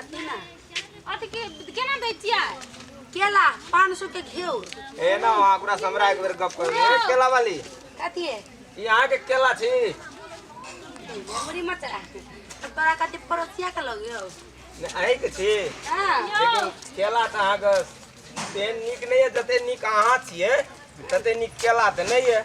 अथी ना अथी के केना दै छियै केला पाँच सौ के घेऊ ए ना वहाँ पूरा समरा एक बेर गप कर ए केला वाली कथी है ई अहाँ के केला छी मुरी मचरा तो तोरा कथी पड़ोसिया के लगे हो ने अहीं के छी हाँ लेकिन केला तऽ अहाँ के तेहन नीक नहि है जते नीक अहाँ छियै तते नीक केला तऽ नहि है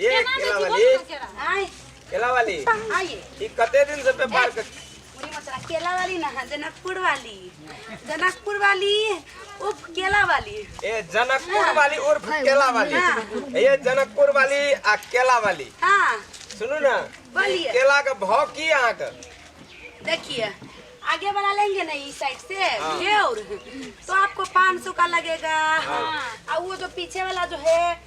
ये केना केला देखी वाली बोल केरा आय केला वाली आइए ई कते दिन से व्यापार कर पूरी मचरा केला वाली ना है जनकपुर वाली जनकपुर वाली उप केला वाली ए जनकपुर वाली और केला वाली ये जनकपुर वाली आ केला वाली हाँ सुनू ना बोलिए। केला का भाव की अहाँ का देखिए आगे वाला लेंगे ना इस साइड से हाँ। ये और तो आपको पाँच सौ का लगेगा हाँ। और वो जो पीछे वाला जो है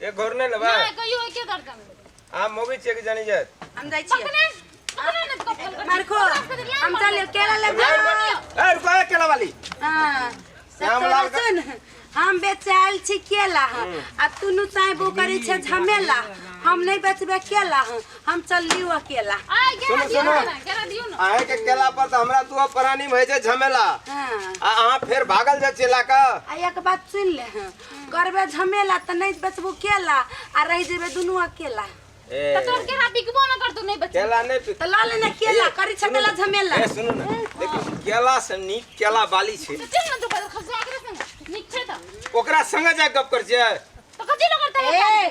एक घोर नहीं लेबा ना कहियो एके दर्जन आ मोबी चेक जानी जात हम जाइ छियै पकड़े पकड़े ना इसको फोन कर मारखो हम चल केला ले ए रुको ए केला वाली हां श्याम लाल का- सुन हम बेचे आयल छी केला हँ। आ तू नु चाहे वो करे छे झमेला हम नहीं बेचबे केला हँ। हम चल लियो केला आ गेला सुनो, दियो सुनो। ना गेला दियो ना आहे के केला पर तो हमरा तू परानी में है जे झमेला हां आ अहाँ फेर भागल जा चेला का आ एक बात सुन ले हँ। करबे झमेला त नहीं बचबू केला आ रह जेबे दुनू अकेला ए त तोर केरा बिकबो न करतो नहीं बच केला नहीं पी त ल लेना केला करी छकेला झमेला ए सुनू ना देखो केला से नीक केला बाली छै त चल न तो पर खसवा के रख न निक छै त ओकरा संगे जा गप कर जे त कथि ल करता ए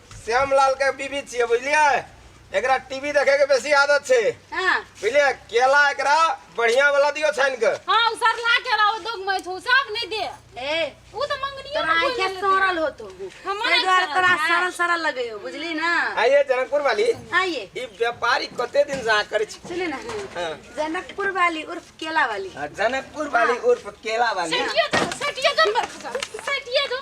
श्यामलाल के बीबी छिए बुझलिए एकरा टीवी देखे के बेसी आदत छे हां बुझलिए केला एकरा बढ़िया वाला दियो छान के हां उ सरला केला ओ दुग में छु सब नहीं दे ए उ तो मंगनी तोरा आई के सरल हो तू हमारे द्वारा तोरा सरल सरल लगे हो बुझली ना आइए जनकपुर वाली आइए ई व्यापारी कते दिन जा करे छी सुने ना हाँ। जनकपुर वाली उर्फ केला वाली जनकपुर वाली उर्फ केला वाली सेटिया जो सेटिया जो मर खसा सेटिया जो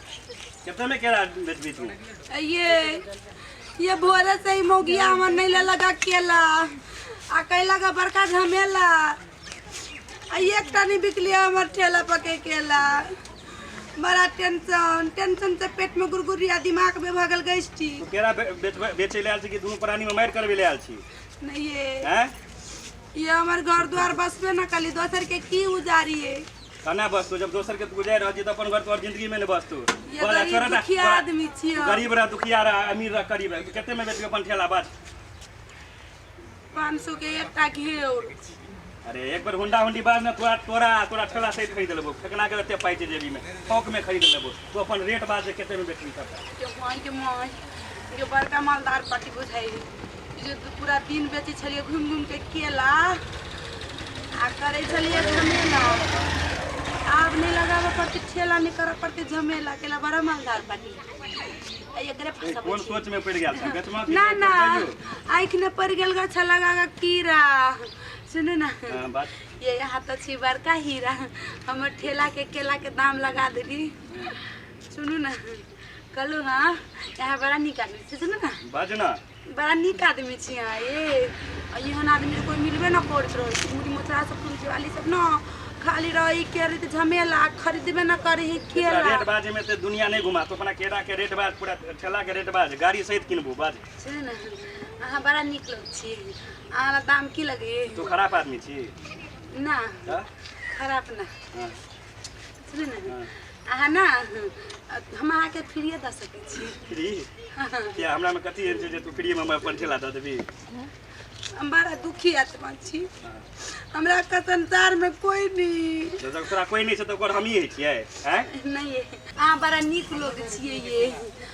कितना में केला बेचबी तू ये ये भोरे से ही मोगिया हमर नहीं ले लगा केला आ कैला का बड़का झमेला आ एक टनी बिकली हमर ठेला पके केला बड़ा टेंशन टेंशन से पेट में गुरगुरिया दिमाग में भगल गई थी तू केला बे- बेचबे- बेचे ले आयल छी कि दुनू प्राणी में मारि करबे ले आयल छी नहीं ये हैं ये हमर घर द्वार बसबे न कली दोसर के की उजारी है कना बसतो जब दोसर के गुजर रह तो अपन घर तोहर जिंदगी में ने बसतो ये बोला गरीब छोरा ना दुखिया तोरा- आदमी छियै। तू गरीब रह दुखिया रह अमीर रह गरीब रह तू कते में बेचबे अपन ठेला बात पाँच सौ के एकटा घेर अरे एक बार होंडा होंडी बाद में तोरा तोरा तोरा ठेला सहित खरीद लेबो फेकना के रहते पाई छै जेबी में थोक में खरीद लेबो तू अपन रेट बात जे कते में बेचबी तब के भगवान के माय के बड़का मालदार पार्टी बुझाई जे पूरा दिन बेचै छलियै घुमि घुमि कऽ केला आ करै छलियै झमेला आब नहि लगाबऽ पड़तै ठेला नहि करऽ पड़तै झमेला केला बड़ा मालदार बाटी आ एकरे फँसबै कोन छियै। सोच में पड़ गया था गचमा ना ना आँखि में पड़ गेल गछ लगा कऽ कीड़ा सुनू ना बात ये यहाँ तो छी बड़का हीरा हमर ठेला के केला के दाम लगा देली सुनू ना कहलू हाँ यहाँ बड़ा नीक आदमी छै सुनू ना बाजू ना बड़ा नीक आदमी छी अहाँ ये आ एहन आदमी कोई मिलबे ना करत रहै छै मुड़ी मोचरा सब तुलसी वाली सब ना खाली रही के रही झमेला खरीदबे ना करे है एकरा केला रेट बाज में ते दुनिया नहीं घुमा तो अपना केरा के रेट बाज पूरा ठेला के रेट बाज गाड़ी सहित किनबू बाज छै ना अहाँ बड़ा नीक लोग छी अहाँ ला दाम की लगे तू खराब आदमी छी ना हाँ? खराब ना हाँ। सुनू ने हाँ। अहाँ ना हम अहाँके फ्रीए दऽ सकै छी फ्री किया हमरा में कथी एहन छै जे तू फ्री में हमरा अपन ठेला दऽ देबी हम बड़ा दुखी आत्मा छी हमरा के संसार में कोई नहीं जब तक तोरा कोई नहीं छै तऽ ओकर हमही होइ छियै हैं नहीं है अहाँ बड़ा नीक लोग छियै ये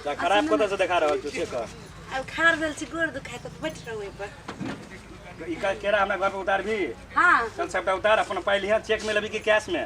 तऽ खराब कतऽ से देखा रहल छी से कह अब खार भेल छी गोड़ दुखाय तऽ बैठ रहू एहि पर ई का केरा हमरा घर पर उतार भी हाँ चल सबटा उतार अपन पाइ लिहा चेक में लेबी कि कैश में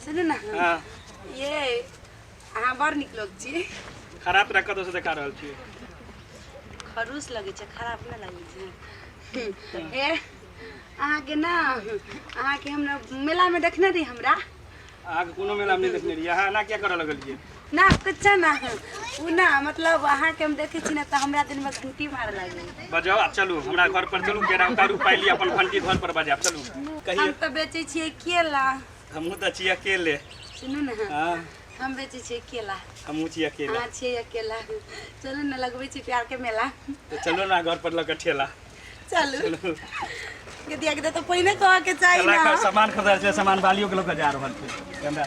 सुनू ने हाँ ये अहाँ बड़ नीक लोग छी खराब तरह कतौ से देखा रहल छी खरूस लगै छै खराब नहि लगै छै हे अहाँके ने अहाँके हमरा मेलामे देखने रही हमरा अहाँके कोनो मेला में नहीं देखने रहिए अहाँ एना क्या करऽ लगलिए ना कुछो ना है उ ना मतलब अहाँ के हम देखे छी ना तो हमरा दिन में घंटी मार लागे बजाओ आप चलू हमरा घर पर चलू केरा उतारू पाइ ली अपन घंटी घर पर बजाब चलू हम कहिए तो बेचे छिए केला हमहूँ तऽ छी अकेले सुनू ना हाँ हम बेचे छिए केला हमहूँ छी अकेले अहाँ छिए अकेला चलू ना लगबे छी प्यार के मेला तऽ चलू ने घर पर लऽ कऽ ठेला चलू चलू गदिया के तो पहिने कह के चाहिए ठेला ना का सामान खरीदार छै सामान बालियो के लऽ कऽ जा रहल छै हमरा